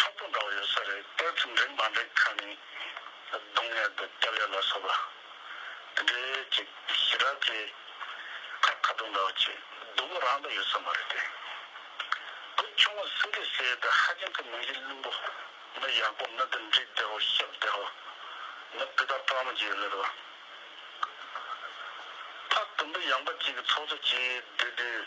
ཁྲག་དོག་འདྲ་བོ་ཡོད་ས་རེད་དཔེར་ཚོམས་འདྲེན་མ་འདྲེན་ཁ་ནས་གདོང་ཡར་དུ་སྐྱབས་ཡར་ལ་སོགས་པ་དེ་འདྲའི་ཅིག་ཞི་རགས་ཀྱི་ཁར་ཁ་དོག་འདྲ་བོ་ཅིག་སྡུག་པོ་རང་དང་ཡོད་ས་མ་རེད་དེ་བུ་ཆུང་ངུ་སུ་འདྲའི་ཟས་དང་ཧ་ཅང་གི་མིང་གཞི་བླུན་པོ་མི་ཡག་པོ་མི་དང་འདྲིས་བདེ་བོ་ཤི་བདེ་བོ་མི་སྤུས་དག་སྤྲང་མོ་ཅིག་ཡོད་ལེ་རོ། ཕ་དུམ་བུ་ཡངས་པ་ཅིག་གི་ཚོགས་གཙོ་ཅིག་བསྡུས་དུས།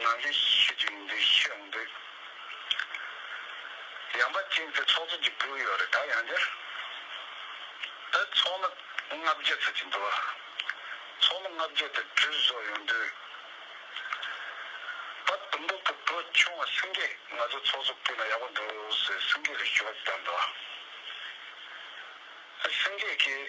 ང་འདི་ཤི་དུས་འདི་ཤི་འདི། ཡང་པ་ཅིང་ཚེ་ཚོགས་རྫོགས་ཀྱི་བུ་ཡོད་རེད་ད་ཡང་འདིར། ད་ཚོགས་མི་ལྔ་བརྒྱད་ཚོགས་ཀྱི་འདུལ་བ། ཚོགས་མི་ལྔ་བརྒྱད་དེ་བྲུས་བཟོ་ཡོང་དུས། པ་དུམ་བུ་གི་བུ་ཆུང་བ་སེང་གེས་ང་ཚོ་ཚོགས་གཙོ་བསྐོས་ན་ཡག་པོ་འདུག་ཟེར་སེང་གེ་ལ་ཞུ་བ་བཏང་འདུག་ཨ། སེང་གེ་གིས།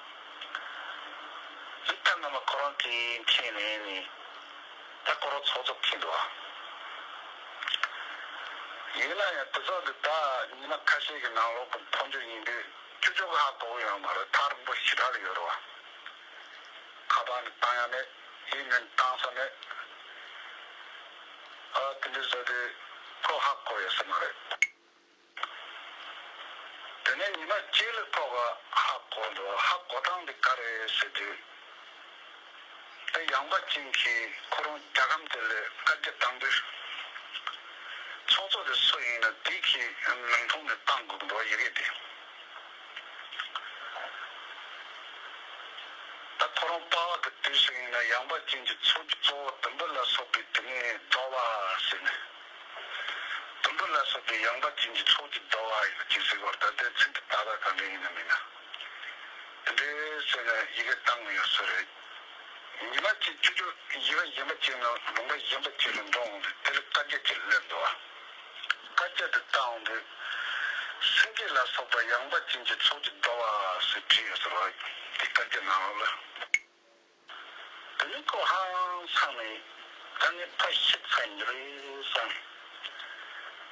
ཡིག་ཐོག་སྔ་མ་ཁོ་རང་གིས་མཁྱེན་ནས་ནི། ད་ཁོ་རང་ཚོགས་རྫོགས་མཁྱེན་འགྲོ་བ། ཡིན་ན་ཡང་དེ་ཚོགས་འདི་དག་ཉི་མ་ཁ་ཤས་ཀྱི་ནང་ལོག་གི་འཕོ་འགྱུར་ཡིན་དུས་ཁྱོད་ཆོ་ག་ཧ་གོ་གི་ཡོད་མ་རེད་ཐག་རིང་པོ་ཞི་དྲག་གི་ཡོད་རེད་བ། ཁ་པར་ནི་བཏང་ཡ་མེད་ཡིག་ནི་བཏང་ས་མེད། ཨ་དེ་འདྲས་བཟོས་དུས་ཁོ་ཧ་གོ་ཡོད་ས་མ་རེད། དེ་ནས་ཉི་མ་སྐྱིད་ལ་ཐོག་ག་ཧ་གོ་འགྲོ་ཨ་ཧ་གོ་སྟངས་འདི་ག་རེད་ཟེར་དུས། ཨ་ཡང་པ་ཅིང་གིས་ཁོ་རང་རྒྱ་གམ་དེ་ལས་བཀའ་རྒྱ་བཏང་དུས། ཚོགས་གཙོ་དེ་སུ་ཡིན་ན་དེ་གིས་མིང་ཐོག་ནས་བཏང་དགོས་འགྲོ་ཡི་རེད་དེ། ད་ཁོ་རང་དཔའ་བ་གི་དུས་སུ་ཡིན་ན་ཡང་པ་ཅིང་གིས་ཚོགས་ཀྱི་གཙོ་བོ་དུམ་བུ་ལ་སོགས་པའི་དེ་ནས་རྫོགས་ལ་ཟེར་ནས། དུམ་བུ་ལ་སོགས་པའི་ཡངས་པ་ཅན་གྱི་ཚོགས་ཀྱིས་བཟློག་ཨ་ཡིག་ལ་ཅི་ཟེར་བར་ད་ལྟའི་ཚིག་འདི་བལྟ་བ་གང་དྲན་ཡིན་ནམ་མིན་ནམ། དེ་འདྲའི་བསོད་ནམས་ཡི་གེ་བཏང་མི་ཡོང་སྲོལ་རེད། ཉི་མ་གཅིག་བཅུ་བཅུ་ཡི་ག་གཞན་པ་བཅད་ན་ལུང་པ་གཞན་པ་བཅད་རུ་འགྲོ་འོང་དུས་དེ་ལ་བཀའ་བརྒྱད་ཅེས་སླེབས་འདུག་ཨ། བཀའ་བརྒྱད་དུ་བལྟ་འོང་དུས། སེང་གེ་ལ་སོགས་པ་ཡངས་པ་ཅན་གྱི་ཚོགས་ཀྱིས་བཟློག་ཨ་ཨ་ཟེར་བྲིས་ཡོད་ཟེར་བ་འདི་བཀའ་བརྒྱད་ནང་ལོགས་ལ། བུད་མེད་ཁོ་ཧ་ཡང་ཚང་མས་ད་ནི་ཕ་ཤི་ཚར་མྱི་རེད་བསམ།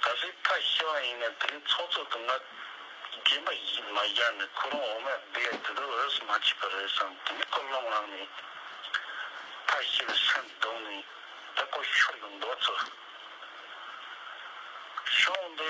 ད་གཟོད་ཕ་ཤི་བ་ཡིན་ནས་དེ་ནི་ཚོགས་གཙོ་དུ་ང་རྒན་པ་ཡིད་མ་བཞག་ནས་ཁོ་རང་འོ་མ་སྦས་ཡ་དེ་དག་འོས་སུ་མ་བྱས་པ་རེད་བསམ་དེ་ནི་ཁོ་བློ་ངང་ནས་ཕ་ཤི་བའི་སེམས་བཟློག་ནས་ད་ཁོ་ཤོར་དུ་འགྲོ་ཚུར་ཤོང་དེ།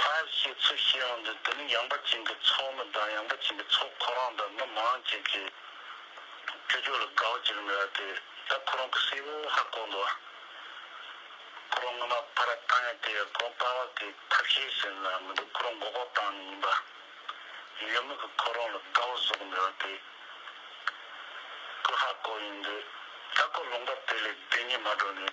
ཕར་ཞེས་ཚུར་བཤད་འོག་འདི་དུམ་ཡངས་པ་ཅན་གྱི་ཚོགས་མི་གདངས་ཡངས་པ་ཅན་གྱི་ཚོགས་ཁོ་རང་དང་མི་མང་བཅས་ཀྱི་ཅོ་ཅོ་ལ་དགའ་བ་ཅི་རིགས་མེད་པ་དེ་དག་ཁོ་རང་གི་སྲས་པོ་ཧ་གོ་འདུག་ཨ། ཁོ་རང་སྔོན་མ་ཕ་ར་བཏང་ཡས་དེ་ཡར་གོང་སྤར་བ་དེ་ཐབས་ཤེས་ཟིན་ལ་མི་འདུག་ཁོ་རང་མགོ་ལྐོག་བཏང་ནས་ཡིན་པ། ཡུལ་མི་གི་ཁོ་རང་ལ་དགའ་བ་བཟོ་གི་མེད་པ་དེ་ཀུ་ཧ་གོ་ཡིན་འདུག་ཨ་ཁོ་ལུང་པ་དེ་ལས་བདེན་གཉིས་མ་འགྲོ་ནས།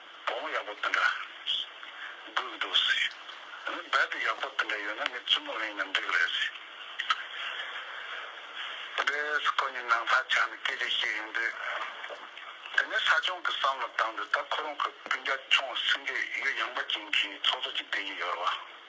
བོང་བུ་ཡག་པོ་དེ་འདྲ་སྒུག་འདུག་ཟེར། ངས་རྦད་དེ་ཡག་པོ་དེ་འདྲ་ཡོད་ན་ངའི་བཙུན་མོ་གླེང་ན་འགྲིག་རེད་ཟེར། དེས་ཁོ་གཉིས་ནང་ལྷ་ཆགས་ནས་སྐད་ཆ་བཤད་ཡོང་དུས། དེ་ནས་ས་སྐྱོང་གི་བསམ་བློ་བཏང་དུས་ད་ཁོ་རང་ཁོའི་སྤུན་རྒྱ་ཁྱོང་སེང་གེ་གཡུ་ཡངས་པ་ཅན་གྱིས་ཚོགས་གཙོ་གྱི་སྡེ་དབྱེ་ཡོད་རེད་བ།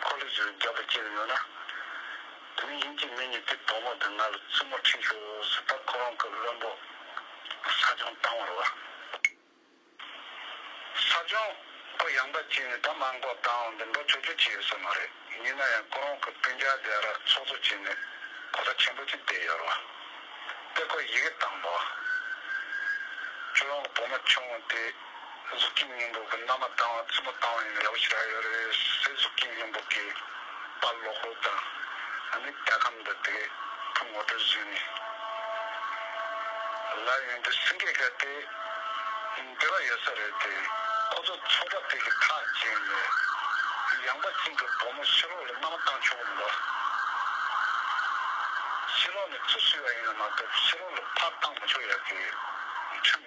འཁོར་ལོས་སྦྱོར་བའི་རྒྱ་དང་བཅས་པ་ཡོད་ན། དེ་ནས་ཡིད་ཀྱིས་མི་ཉིད་དེ་དོགས་མོ་དང་ང་ལ་བཙུན་མོ་ཁྲིད་ཞུ་ཟེར་ད་ཁོ་རང་སྐབས་བློན་པོ། ས་སྦྱོང་བཏང་བར་བ། ས་སྦྱོང། པོ་ཡངས་པ་གཅིག་ནས་ད་མ་འགོག་བཏང་འདི་འགྲོ་ཆོག་ཆོག་བྱས་ཡོད་ས་མ་རེད་ཡིན་ན་ཡང་ཁོ་རང་སྐབས་སྤུན་རྒྱག་རྒྱག་ར་ཚོགས་ཚོགས་བྱས་ནས་གོ་ས་ཆེན་པོ་གཅིག་བསྡད་ཡོད་ར་བ། དེ་ཁོ་ཡི་གེ་བཏང་བ། ཁྱོད་རང་གི་བུ་མོ་ཆུང་ངུ་དེ། གཟུགས་ཀྱི་སྙིང་པོ་གི་མནའ་མ་བཏང་བ་རྩིས་མོ་བཏང་བ་ཡིན་ལེའུ་ཞིག་ཨ་ཡོ་རེ་སའི་གཟུགས་ཀྱི་སྙིང་པོ་གི་པ་ལོག་ལོ་དང་ཨ་མི་ཏའི་ཁམས་འདི་དེ་ཕུང་ངོ་སྤྲོད་བཟོས་ནས་ལར་ཡོང་དུས་སེང་གེ་ག་དེ་འདྲི་བ་ཡོད་ས་རེད་དེ་ཁོ་ཚོ་ཚོ་ཁྲ་དེ་གི་ཐག་བཅད་ནས་ཡང་པ་གཅིག་གི་བུ་མོ་ཤི་ལོག་ལ་མནའ་མ་བཏང་ཆོག་གི་མི་འདུག་ཤི་ལོག་ནི་ཚུར་ཤི་བ་ཡིན་ན་མ་གཏོགས་ཤི་ལོག་ལ་ཕར་བཏང་མི་ཆོག་ཡ་དེ་ཁྲིམས།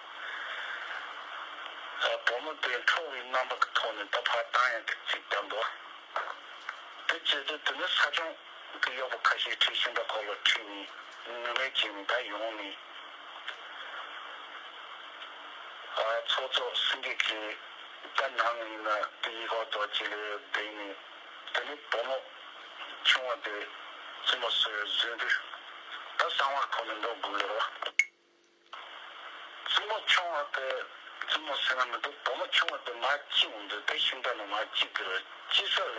བུ་མོ་དེས་ཁྲོ་བའི་རྣམ་པ་གི་ཐོག་ནས་ད་བར་བཏང་ཡང་ཐེངས་གཅིག་ཀྱང་འདུག་དེ་བཅད་དུས་དེ་ནི་ས་སྐྱོང་གི་གཡོག་པོ་ཁ་ཤས་ཁྲི་ཤིང་པ་གོ་ལོ་ཁྲིད་ནས་ནུ་མའི་རྗེས་ནས་ད་ཡོང་ནས། ཚོགས་གཙོ་སེང་གེ་ཁྱེད་ད་ནམ་ཡིན་ན་དེ་ཡི་གོག་རྡོ་རྗེ་ལས་བསྡད་ནས་དེ་ནས་བུ་མོ་ཆུང་བ་དེ་ཙི་མོ་སོས་བཟོས་འདུག་ད་གསང་བར་ཁོ་ནི་འགྲོ་དགོས་ལོ། བཙུན་མོ་ཆུང་བ་པས་བཙུན་མོ་བསོད་ནམས་འདི་བུ་མོ་ཆུང་བ་དེ་མ་ཅི་འོང་དུ་དེ་ཤིང་རྟ་ནི་མ་ཅི་འདི་རུ་ཅི་ས་ལས་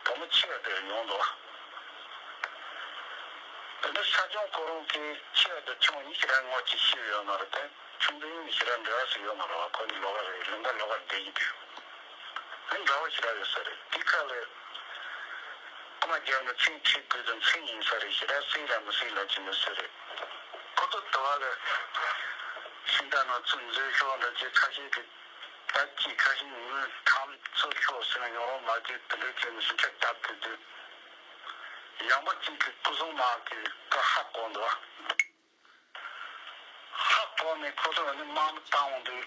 བུ་མོ་འཆི་བ་དེར་ཡོང་དུ། དེ་ནས་ས་སྐྱོང་ཁོ་རང་གིས་འཆི་བ་དེ་ཆུང་བ་ཉི་ཤི་ར་ངོ་ཅི་ཤི་ཡོད་མ་རུ་དེ་ཆུང་དེ་ཉི་ཤི་ར་འདྲ་བ་ཞིག་ཡོད་མ་རུ་བ་ཁོ་ནི་ལོ་ག་རེ་ལིང་ག་ལོ་གར་བསྡད་ཀྱི་འདུག་དེ་འདྲ་བ་ཞིག་ར་ཡོད་ས་རེད་དེའི་ཁ་ལས། ཨ་མ་རྒྱབ་ནས་ཚིག་ཁྲིད་དགོས་དོན་ཚིག་ཡིན་ས་རེད་ཤི་ར་སྲིད་ལ་མི་སྲིད་ལབ་ཀྱི་ཡོད་ས་རེད། གོ་ཐོབ་དྲི་བ། ཤིང་རྟ་ནག་ཚུགས་མཛོད་ཤོག་འདྲ་བྱེད་ཁ་ཤས་ཀྱི་ད་ཅིའི་ཁ་ཞིང་ངུས་ཁྲམ་ཚུགས་ཤོག་ཟེར་ན་ཡོང་རོགས་མ་བརྒྱུད་དེ་འདྲའི་ཆོས་ནི་ཤིང་ཁྲ་བསྟབས་ཏེ་སྡོད། ཡང་པ་གཅིག་གིས་སྐུ་སྲུང་དམག་གི་བཀའ་ཧ་གོ་འདུག་ཨ། ཧ་གོ་ནས་ཁོ་ཚོར་འོན་ཏེ་དམག་མི་བཏང་འོང་དུས།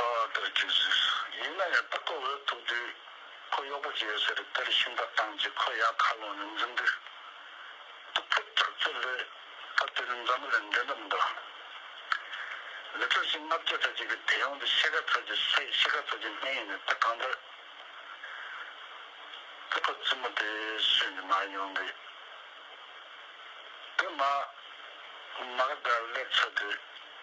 ད་དེར་གྱུར་ཟེར། ཡིན་ན་ཡང་སྟག་གོ་འོད་ཐུག་དུས་ཁོ་གཡོག་པོ་བྱས་ཡོད་ཟེར་དེར་ཤིང་རྟ་བཏང་རྗེས་ཁོ་ཡར་མཁའ་ཀློང་ནས་འཛུལ་འདུག་སྟུག་པོ་དྲག་རྩལ་ལས། ད་དེ་ནི་མཛའ་མོ་ལས་འདས་འདྲ་མི་འདུག། ལི་ཁྲོ་ཞིང་ལྔ་བརྒྱ་རྩ་གཅིག་གི་དེ་ཡོང་འདི་ཤེལ་ཁ་ཚོད་ཀྱི་སའི་ཤེལ་ཁ་ཚོད་ཀྱི་སྨན་ཡིན་ནི་ད་གང་འདོད། ཙི་ཕོ་ཙི་མོ་དེ་སུས་ནི་མར་ཡོང་འདི། དེ་མ། མ་ག་དག་ལེགས་ཚོད་དེ།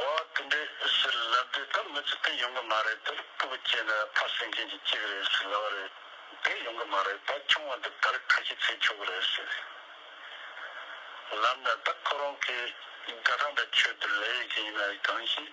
བ་དེ་འདྲའི་ཕྱིར་ལབ་དེ་ད་མི་ཚེ་འདི་ཡོང་གི་མ་རེད་དེར་སྤུ་གུ་སྐྱེས་ན་ཕ་སེང་ཆེན་གྱི་སྐྱེས་གི་རེད་ཞེས་ལབ་བ་རེད་དེ་ཡོང་གི་མ་རེད་ད་ཆུང་བ་འདི་དར་ཁ་ཤི་ཚེ་ཆོག་གི་རེད་ཞེས་ལབ་ན་ད་ཁོ་རང་གིས་རྒྱ་གྲམ་པའི་ཆོས་འདི་ལས་ཡོད་ཀྱི་ཡིན་ན་གང་ཞིག།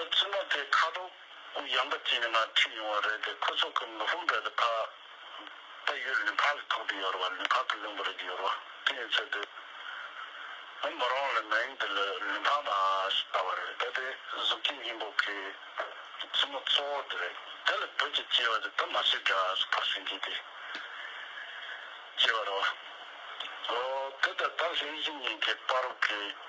ད་ཚུན་མ་དེ་ཁ་དོག་གུ་ཡངས་པ་ཅིག་ནས་ང་ཁྲིད་ཡོང་བ་རེད་དེ་ཁོ་ཚོ་གི་མི་ཧུམ་བེ་དེ་ཕག་ད་ཡོད་ལུས་ཕག་གི་ཐོག་དེ་ཡོད་རེད་བ་ལུས་ཕག་གི་གླིང་བུ་རེད་ཡོད་རེད་བ་དེ་ཡིན་ཚོད་དེ་ང་མོ་རང་ལ་མེང་དེ་ལུས་ལུས་ཕག་མ་ཞིག་ད་བ་རེད་ད་དེ་གཟུགས་ཀྱི་སྙིང་པོ་གི་ཚུན་མོ་གཙོ་བོ་དེ་རེད་དེ་ལ་བོད་ཀྱི་སྐྱེ་བ་དེ་ད་མ་སྲིད་འདྲ་ཟུར་ཕག་ཤིང་གིས་དེ་སྐྱེ་བ་རེད་བ་འོ་དེ་ད་ད་ལྷས་གཞི་གཉིས་ཀྱི་དཔའ་རོགས་གིས།